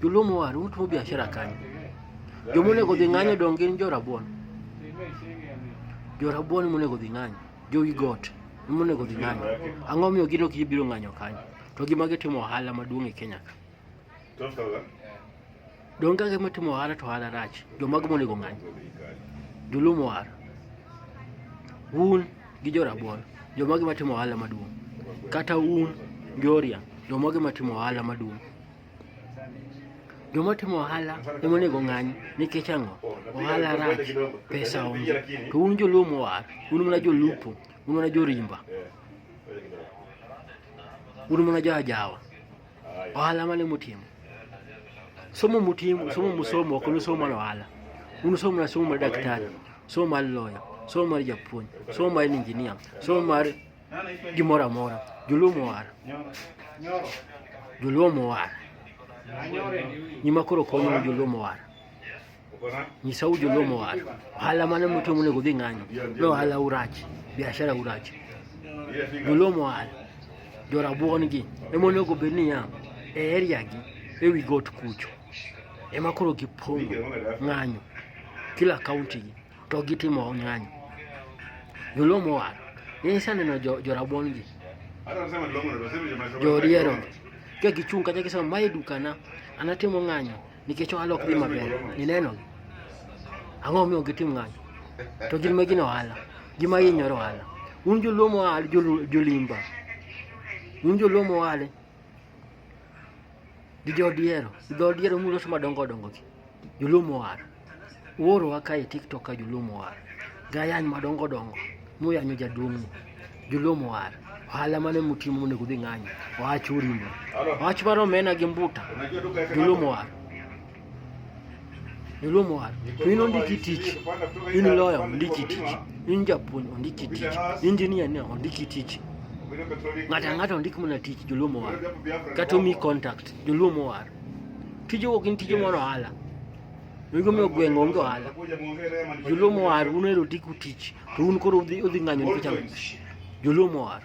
Joluo waru utimo biashara kanyo. Joma onego dhi ng'anyo dong gin jo rabuon. Jo rabuon ema onego dhi ng'anyo. Jowi got ema onego dhi ng'anyo. Ang'o miyo gin ok gibiro ng'anyo kanyo? To gima gitimo ohala maduong' e Kenya ka. Dong ka gima timo ohala to ohala rach. Jomago monego ng'anyo. Joluo mowar. Un gi jo rabuon. Jomago ema timo ohala maduong'. Kata un Joria. Jomago ema timo ohala maduong'. Joma timo ohala ema onego ng'anyo nikech ang'o? Ohala rach, pesa onge. To un joluo mowar, un mana jolupo, un mana jorimba, un mana jo ajawa. Ohala mane mutimo? Somo mutimo, somo musomo, ok nusomo mana ohala. Unusomo mana somo mar daktari, somo mar loya, somo mar japuonj, somo mar injinia, somo mar gimoro amora joluo mowar joluo mowar nyima koro konyo joluo mowar nyisa u joluo mowar ohala mane mutimo onego dhi ng'anyo no ohala urach biashara urach joluo mowar jorabuon gi ema onego bed niya e area gi ewi got kucho ema koro gipong'o ng'anyo kila kaunti gi to gitimo ng'anyo. Joluo mowal, nisaneno jorabuon gi joriero ka gichung' kata gisema mae dukana an atimo ng'anyo nikech ohala ok dhi maber ninenogi ang'o omiyo gitim ng'anyo to gin ma gin ohala gima hinyore ohala un joluo mowal jolimba un joluo mowale gi jo odiero gi dho odiero muloso madongo dongo gi jolumo war uoro wa kae tiktok ka jolumo war gayany madongo dongo muyanyo jaduong'u jolumo war ohala mane mutimo monego udhi ng'anyo oach urimo oach mar omena gi mbuta jolumo war Nilwo mwari. Wino ndiki tich. Wino lawyer ndiki tich. Wino japun ndiki tich. Wino engineer ne ndiki tich. Ngata ngata ndiki muna tich jolwo mwari. Kato mi contact jolwo mwari. Tijo wokin tijo moro hala. Wigo mi ogwengo onge ohala. Jolwo mwari uno ero tiku tich. To un koro udhi ng'anyo nikech ang'o? Jolwo mwari.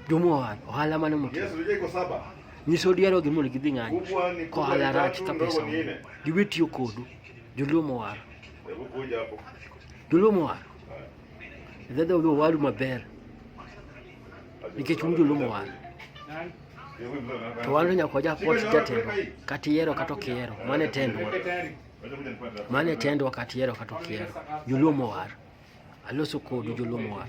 Jomoa, ohala mane motimo? Yesu je ko saba. Nyiso diero gi mondo gidhi ng'anyo. Ko ohala rach ka pesa. Giwe tiyo kodu. Joluo mowar. Joluo mowar. Dhadha oluo waru maber. Nikech un joluo mowar. To wan nyaka waja pot jatelo kata iero kata ok iero. Mano e tendwa. Mano e tendwa kata iero kata ok iero. Joluo mowar. Aloso kodu joluo mowar.